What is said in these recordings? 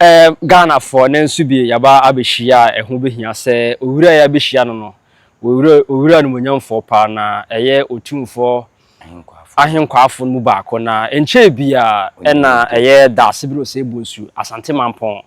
Erm Ghanafoɔ na nso bi yaba abɛhyia a ɛho bɛhia sɛ owura a yɛabɛhyia no no owura owura animuonyamfoɔ paa na ɛyɛ otumfoɔ Ahenkwaafo. Ahenkwaafo no mu baako na ɛnkyɛɛ biaa ɛna Onyame Ado. ɛyɛ Daasebiri Osei Bonsu Asante Mampɔn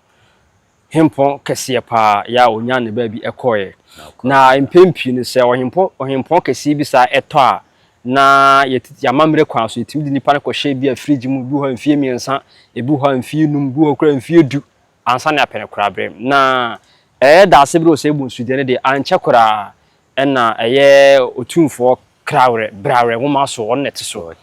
Hempɔn kɛseɛ paa yɛ a ɔnyaa ne baabi ɛkɔeɛ Na ɔkɔɔ na mpɛn pii no sɛ ɔhempɔ ɔhempɔn kɛseɛ bi saa ɛtɔ a na yɛtete amammerɛ kwan so, yɛtumi de nnipa no kɔhyɛ bi a fridge mu, ebi wɔ hɔ a mfeɛ mmiɛnsa, ebi wɔ hɔ a mfeɛ num, ebi wɔ hɔ koraa mfeɛ du, ansa na yɛapɛ no koraa berɛ mu. Na ɛyɛ daase berɛ wɔ saa ebunsu deɛ no deɛ, ankyɛ koraa ɛna ɛyɛ Otumfoɔ Krawerɛ, Brawerɛ nwoma so, ɔno na ɛte so.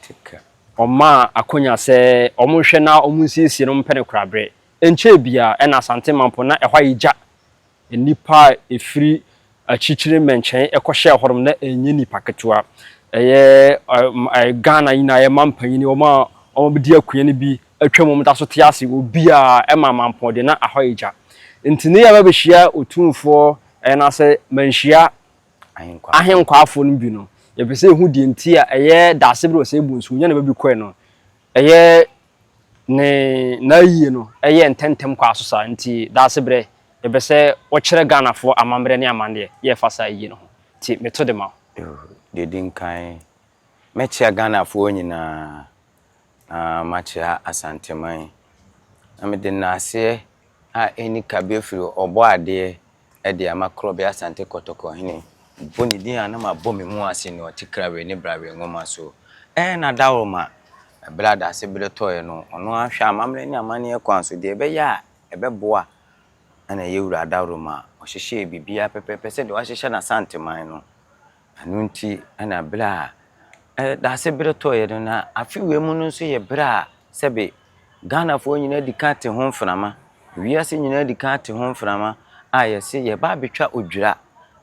Ɔmaa akonya sɛ wɔnhwɛ na wɔnsiesie no, wɔmpɛ no koraa berɛ. Ɛnkyɛɛ biara ɛna Asante Mampo, na ɛhɔ ayɛ gya. Nnipa a ɛfiri akyirikyiri mmɛnkyɛn kɔhyɛɛ hɔnom, na ɛnyɛ nnipa ketewa. Ɛyɛ Ghana nyinaa, ɛyɛ mmaa mpanin, wɔn a wɔadi akonnwa no bi atwam, wɔda so te ase, obiara, ɛma mampɔn deɛ na ahɔ ayɛ gya. Nti ne yɛba bɛhyia Otumfoɔ anaasɛ manhyia ahenkwaafoɔ no bi no, yɛpɛ sɛ yɛhu deɛ nti a ɛyɛ Daasebere Osei Bonsu, Onyaneba bi kɔɛ no, ɛyɛ ne n'ayie no yɛ ntɛmntɛm kɔ aso saa nti Daasebrɛ yɛpɛ sɛ wo kyerɛ Ghanafoɔ amammerɛ ne amanneɛ yɛ fa saa ayie no ho nti meto de ma wo. Deɛ ɛdi nkan mɛkyea Ghanafoɔ nyinaa na makyea Asanteman na mede nnaseɛ a ɛnni kabea firi Ɔbɔadeɛ de ama Krobe Asante Kotoko hene. Mpo ne din a na mabɔ me mu ase no te Krawee ne Brawee nwoma so. Ɛɛ na Dawroma, bere a dase bere tɔe no, ɔno ara hwɛ amammerɛ ne amanneɛ kwan so, deɛ ɛbɛyɛ a ɛbɛboa na ɛyɛ Wura Dawroma. Ɔhyehyɛɛ biribiara pɛpɛɛpɛ sɛdeɛ wahyehyɛ n'Asanteman no. Ɛno nti na bere a dase bere tɔeɛ no, na afe wei mu no nso yɛ bere a sɛbe Ghanafoɔ nyinaa adi kan ate ho mframa, wiase nyinaa adi kan ate ho mframa a yɛse yɛreba abɛtwa odwira.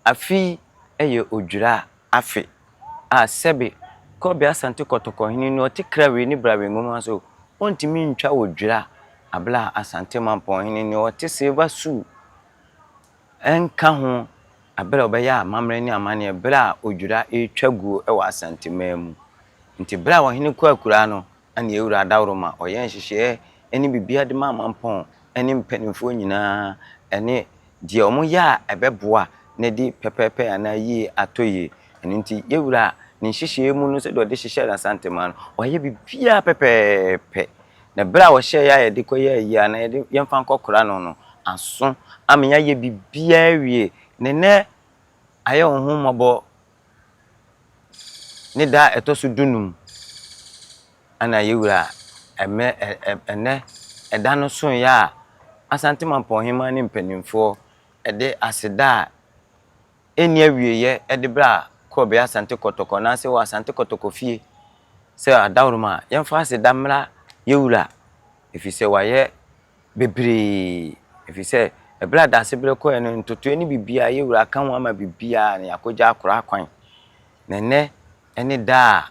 Afe yi yɛ odwira afe a sɛbe Kobe Asante Kɔtɔkɔhene no ɔte Krawee ne Brawee nwoma so, ɔntumi ntwa odwira bere a Asante Mampɔnhene no ɔte Silver Sue. Ɛnka ho bere a ɔbɛyɛ amammerɛ ne amanneɛ bere a odwira retwa guo wɔ Asanteman mu. Nti bere a ɔhene kɔɔ akuraa no, na nea ewura Adaworoma ɔyɛɛ nhyehyɛɛ ne biribiara de maa Mampɔn ne mpanimfoɔ nyinaa ne deɛ wɔyɛ a ɛbɛboa no adi pɛpɛɛpɛ anaa yie atɔ yie. Ɛno nti yewura ne nhyehyɛɛ mu no sɛdeɛ ɔde hyehyɛɛ Asanteman no, wayɛ biribiara pɛpɛɛpɛ Na bere a wɔhyɛɛ yɛn a yɛde kɔyɛ ayi anaa yɛde yɛmfa nkɔkora no no aso ama yɛayɛ biribiara awie. Na ɛnnɛ ayɛ wo ho mmɔbɔ ne da a ɛtɔ so dunum na yɛn wura ɛmɛ ɛnnɛ ɛda no soeɛ a Asante Mampɔn Hemmaa ne mpanimfoɔ de aseda a ɛnni awieeɛ de berɛ a kɔbɛyɛ Asante Kɔtɔkɔ anaasɛ wɔ Asante Kɔtɔkɔ fie sɛ adaworoma a, yɛmfa aseda mmra yɛn wura ɛfiri sɛ wayɛ bebree ɛfiri sɛ ɛberɛ a Daasebrɛ kɔeɛ no ntotoeɛ ne biribiara yɛn wura aka ho ama biribiara na yɛakɔgya akora kwan na ɛnnɛ ne da a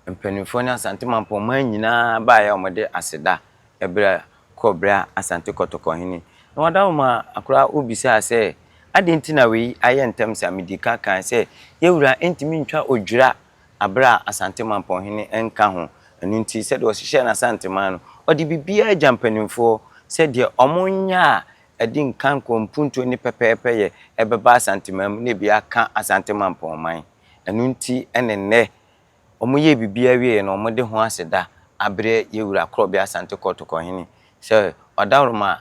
Mpanimfoɔ ne Asante Mampɔn man nyinaa baeɛ a wɔde aseda brɛ kɔɔ berɛ a Asante Kɔtɔkɔ hene Noadaoma Akoraa O bisaa sɛ, Adɛn nti na wei ayɛ ntɛm saa? Medii ka kae sɛ, Yawura ntumi ntwa odwira berɛ a Asante Mampɔn hene nka ho. Ɛno nti, sɛdeɛ ɔhyehyɛɛ n'Asanteman no, ɔde biribiara gya mpanimfoɔ sɛ deɛ wɔnyɛ a ɛde nkankoɔ, mpuntuo ne pɛpɛɛpɛyɛ bɛba Asanteman mu na ebi aka Asante Mampɔn man. Ɛno nti ne nnɛ wɔyɛɛ biribiara wieeɛ no wɔde ho aseda abrɛ yɛn Wura Korɔbea Asante Kɔtɔkɔ Hene sɛ ɔdawuroma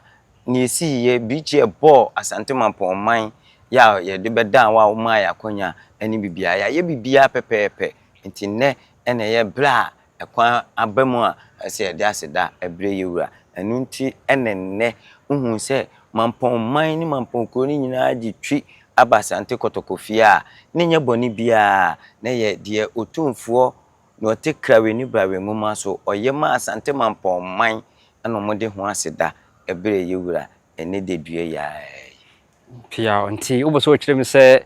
nea ɛsiiɛ birikyi ɛbɔɔ Asante Mampɔn man yɛ a yɛde bɛdaa wo a womaa yɛn akwanya ne biribiara. Yɛayɛ biribiara pɛpɛɛpɛ nti nnɛ na ɛyɛ berɛ a Ɛkwan aba mu a ɛsɛ sɛ yɛde aseda brɛ yɛn Wura. Ɛno nti ne nnɛ wohu sɛ mampɔn man ne mampɔn kuro no nyinaa gye twi aba Asante Kɔtɔkɔ fie a ne nyɛ bɔne biara na ɛyɛ deɛ Otumfoɔ deɛ ɔte Krawe ne Brawe nwoma so ɔyɛ maa Asante mampɔn man na wɔde ho aseda brɛ yɛn Wura ɛnnɛ dadua yi ara yi. Pia, Ntsi wopɛ sɛ ɔkyerɛ mu sɛ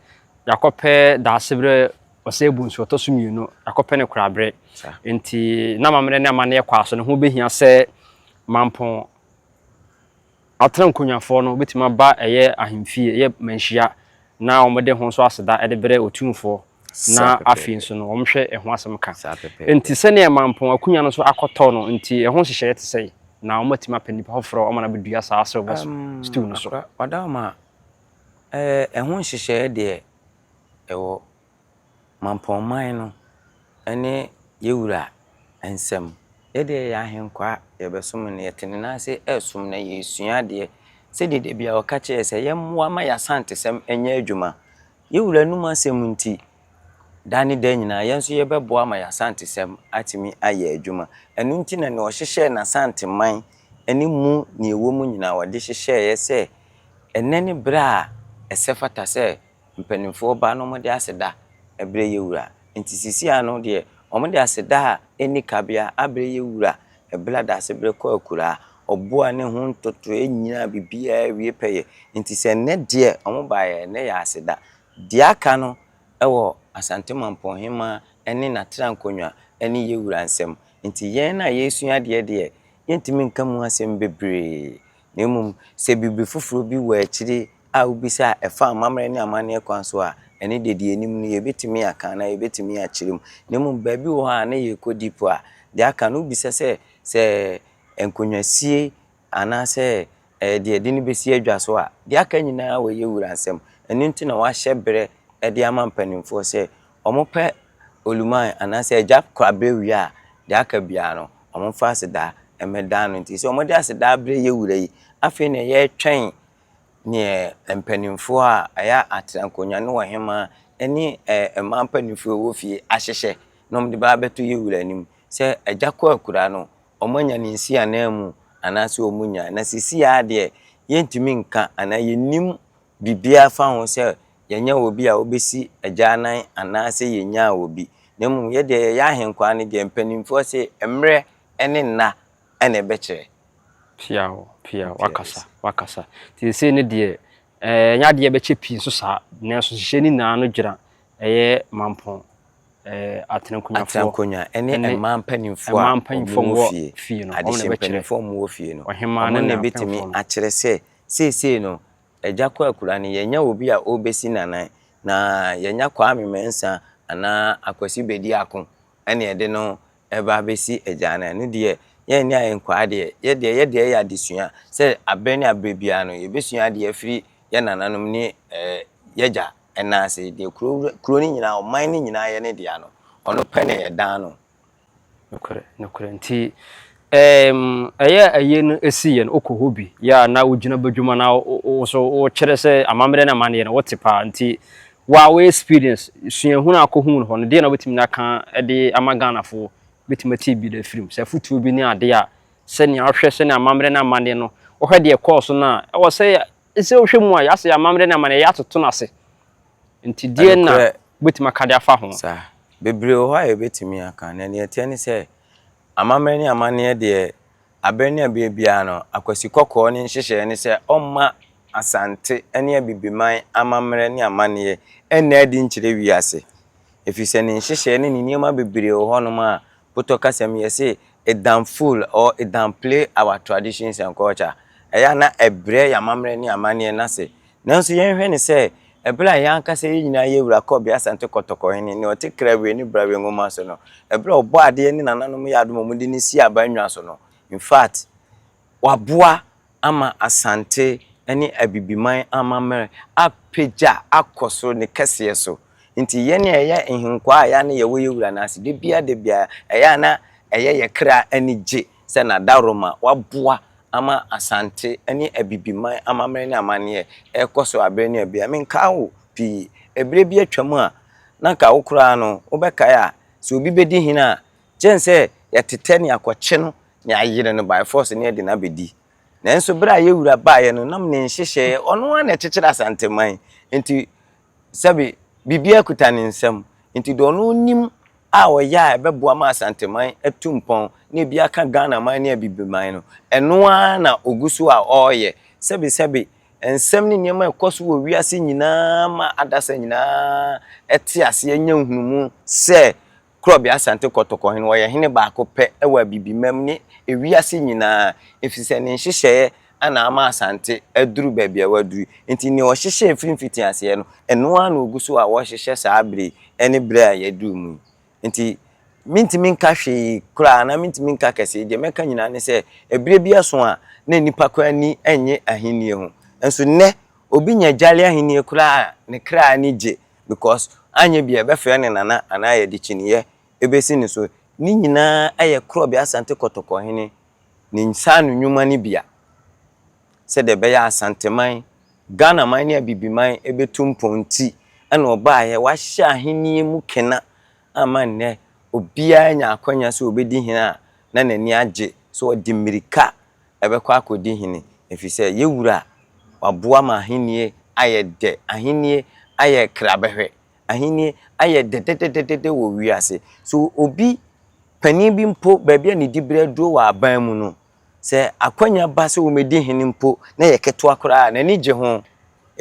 yɛakɔpɛ Daaseberɛ ɔsɛɛbu nsu ɔtɔ so mmienu, yɛakɔpɛ no koraberɛ. Ntsi n'amammerɛ ne amanneɛ kwaa so no, ho behia sɛ mampɔn atena nkonyafɔɔ no betumi aba ɛyɛ ahemfie, ɛyɛ manhyia, na wɔde ho nso aseda de brɛ Otumfoɔ. na afei nso no wɔhwɛ ɛho asɛm ka. Enti sɛnea Mampong akonnwa no nso akɔtɔ no nti, ɛho nhyehyɛeɛ te sɛn? Na wɔatumi apɛ nnipa foforɔ ama no abɛdua saa silver stool no so? Ɔdaoma, ɛho nhyehyɛeɛ deɛ ɛwɔ Mampong man no ne yɛn wura nsam. Yɛn deɛ yɛyɛ ahenkwaa, yɛbɛsom no, yɛte ne nan ase resom no, yɛresua adeɛ. Sɛdeɛ da biara ɔka kyerɛ yɛn sɛ yɛmmoa ma yɛn Asantesɛm nyɛ adwuma. Yɛn Wura anom asɛm nti, daa ne daa nyinaa yɛn nso yɛbɛboa ma y'Asantesɛm atumi ayɛ adwuma. Ɛno nti na nea ɔhyehyɛɛ n'Asanteman ne mu nea ɛwɔ mu nyinaa ɔde hyehyɛeɛ sɛ ɛnnɛ ne berɛ a ɛsɛ fata sɛ mpanimfoɔ ba na wɔde aseda brɛ yɛn Wura. Nti seesei ara no deɛ wɔde aseda a ɛnni kabea abrɛ yɛn Wura Bla Dasebere kɔ akuraa. Ɔboa ne ho ntotoeɛ nyinaa biribiara awie pɛyɛ. Nti sɛ nnɛ deɛ wɔn baeɛ nnɛ yɛ aseda. Deɛ aka no wɔ Asante Mampong Hemaa ne n'atra nkonnwa ne yɛn wura nsam. Nti yɛn a yɛresua adeɛ deɛ yɛntumi nka mu asɛm bebree. na mmom sɛ biribi foforo bi wɔ akyiri a wobisa a ɛfa amammerɛ ne amanneɛ kwan so a, ɛno de, deɛ ɛnim no, yɛbɛtumi aka anaa yɛbɛtumi akyerɛ mu. Na mmom baabi wɔ hɔ a na yɛrekɔdi mpo a, deɛ aka no, wobisa sɛ, sɛ nkonnwasie anaasɛ deɛ yɛde no bɛsi adwa so a, deɛ aka nyinaa wɔyɛ wura nsɛm. Ɛno nti na wɔahyɛ berɛ de ama mpanimfoɔ sɛ wɔpɛ oluman anaasɛ agya koraberɛ wie a, deɛ aka biara no, wɔmfa aseda mmɛda no. Nti sɛ wɔde aseda abrɛ yɛn Wura yi, afei na yɛretwɛn deɛ mpanimfoɔ a ɛyɛ atena nkonnwa ne ɔhemaa ne mmaa mpanimfoɔ a wɔwɔ fie ahyehyɛ na wɔde ba abɛto yɛn Wura anim sɛ agya kɔ akura no, wɔanya no nsi ananmu anaasɛ wɔnnya. Na seesei ara deɛ, yɛntumi nka anaa yɛnnim biribiara fa ho sɛ yɛnyɛ obi a obesi agyanan anaasɛ yenyaa obi, na mmom yɛ deɛ yɛyɛ ahenkwaa no deɛ mpanimfoɔ se mmerɛ ne nna na ɛbɛkyerɛ. Piaw, piaw, wakasa, wakasa. Nti seesei no deɛ, ɛɛ, ɛnyɛ adeɛ a ɛbɛkyɛ pii nso saa, nanso nhyehyɛɛ no nyinaa ano gyina ɛyɛ mampɔn, ɛɛ, atenankonnwafoɔ. Atenankonnwa, ɛne mmaa mpanimfoɔ a wɔwɔ fie, adehye mpanimfoɔ a wɔwɔ fie no, wɔn na ɛbɛtumi akyerɛ sɛ seesei no, Agya Kwakura no, yɛanya obi a ɔrebɛsi n'anan, na yɛanya Kwame Mensah anaa Akwasi Bediako na yɛde no reba abɛsi agya anan. Ɛno deɛ, yɛn ne ayɛ nkwaa deɛ, yɛ deɛ, yɛ deɛ yɛ adesua sɛ aberɛ ne aberɛ biara no, yɛbɛsua adeɛ afiri yɛ nananom ne yɛagya nan ase. Deɛ kuro no nyinaa, ɔman no nyinaa yɛ ne dea no, ɔno pɛ na yɛdan no. Nokorɛ, nokorɛ. Nti ɛɛm ɛyɛ a ayie no si yɛ no wokɔ hɔ bi yɛ a na wogyina badwuma na wo wo nso wokyerɛ sɛ amammerɛ ne amanneɛ no wote paa nti wo a wo experience suahunu a wokɔhuu no hɔ no deɛ na wobɛtumi aka de ama Ghanafoɔ bɛtumi atie bi de afiri mu? Sɛ afotuo bi ne adeɛ a sɛnea wohwɛ sɛnea amammerɛ ne amanneɛ no wohwɛ deɛ ɛkɔɔ so no a ɛwɔ sɛ Sɛ wohwɛ mu a, yɛasɛ yɛn amammerɛ ne amanneɛyɛ atoto no ase. Enti deɛn na Nokorɛ, wobɛtumi aka de afa ho? saa. Bebree wɔ hɔ a yɛbɛtumi aka. Na deɛ ɛteɛ ne sɛ, amammerɛ ne amanneɛ deɛ, aberɛ ne aberɛ biara no, Akwasi Kɔkɔɔ ne nhyehyɛeɛ ne sɛ ɔmma Asante ne Abibiman amammerɛ ne amanneɛ nna adi nkyerɛ wiase. Ɛfiri sɛ ne nhyehyɛeɛ ne ne nneɛma bebree wɔ hɔnom a Potɔ kasa mu yɛse it down fool or it down play our traditions and culture. Ɛyɛ a na ɛbrɛ yɛn amammerɛ ne amanneɛ no ase. Nanso yɛnhwɛ no sɛ ɛberɛ a yɛn ankasa yɛn nyinaa yɛ wura kɔɔ bea Asante Kɔtɔkɔ hene, nea ɔte Krawire ne Brawe nwoma so no, ɛberɛ a Ɔbɔadeɛ ne nananom yɛ adom a wɔde no sii aban nnwa so no, in fact, waboa ama Asante ne Abibiman amammerɛ apagya akɔ soro ne kɛseɛ so. Nti yɛn a yɛyɛ nhenkwaa a ɛyɛ a na yɛwɔ yɛn wura no ase da biara da biara, ɛyɛ a na ɛyɛ yɛn kra ani gye sɛ Nadaroma waboa ama Asante ne Abibiman amammerɛ ne amanneɛ rekɔ so aberɛ ne aberɛ yi. Menkaa wo pii. Ɛberɛ bi atwam a na anka wo koraa no wobɛkae a sɛ obi bɛdi hene a Gyen sɛ yɛtetɛ nea kɔkye no ne ayere no by force ne yɛde no abɛdi. Nanso berɛ a yɛn wura baeɛ no nam ne nhyehyɛeɛ ɔno ara na ɛkyekyere Asanteman nti sɛbe biribiara kuta ne nsam nti deɛ ɔno nim a ɔyɛ a ɛbɛboa ma Asanteman atu mpɔn na ebi aka Ghanaman ne Abibiman no ɛno ara na ɔgu so a ɔreyɛ sɛbe sɛbe nsɛm ne nneɛma a ɛkɔ so wɔ wiase nyinaa ma adasa nyinaa te aseɛ nya nhunumu sɛ Korɔbea Asante Kɔtɔkɔ hene, ɔyɛ hene baako pɛ wɔ Abibimam ne ewiase nyinaa efisɛ ne nhyehyɛeɛ na ama Asante aduru baabi a waduru yi. Enti nea ɔhyehyɛɛ firi mfitiaseɛ no, ɛno ara na ɔgu so a ɔrehyehyɛ saa berɛ yi ne berɛ a yɛaduru mu yi. Enti mentumi nka hwee koraa anaa mentumi nka kɛseɛ, deɛ mɛka nyinaa ne sɛ ɛberɛ bi aso a na nnipa koraa ani nnye ahennie ho. Nso nnɛ obi nya Jali ahennie koraa a ne kra ani gye because anyɛ bi a ɛbɛfrɛ ne nana anaa yɛde kyiniiɛ bɛsi ne so. Ne nyinaa yɛ Krɔbe Asante Kɔtɔkɔhene ne nsaano nnwuma no bi a sɛdeɛ ɛbɛyɛ a Asanteman, Ghanaman ne Abibiman bɛtu mpɔn nti na ɔbaeɛ. Wahyɛ ahennie mu kena ama nnɛ obiara anya akwanya sɛ ɔbɛdi hene a na n'ani agye sɛ ɔde mmirika ɛbɛkɔ akɔdi hene, ɛfiri sɛ yɛn Wura waboa ma ahennie ayɛ dɛ, ahennie ayɛ krabɛhwɛ, ahennie ayɛ dɛdɛdɛdɛdɛ wɔ wiase. So obi, panin bi mpo, baabi a ne diberɛ aduro wɔ aban mu no, sɛ akwanya ba sɛ ɔmmɛdi hene mpo na ɛyɛ ketewa koraa a, n'ani gye ho.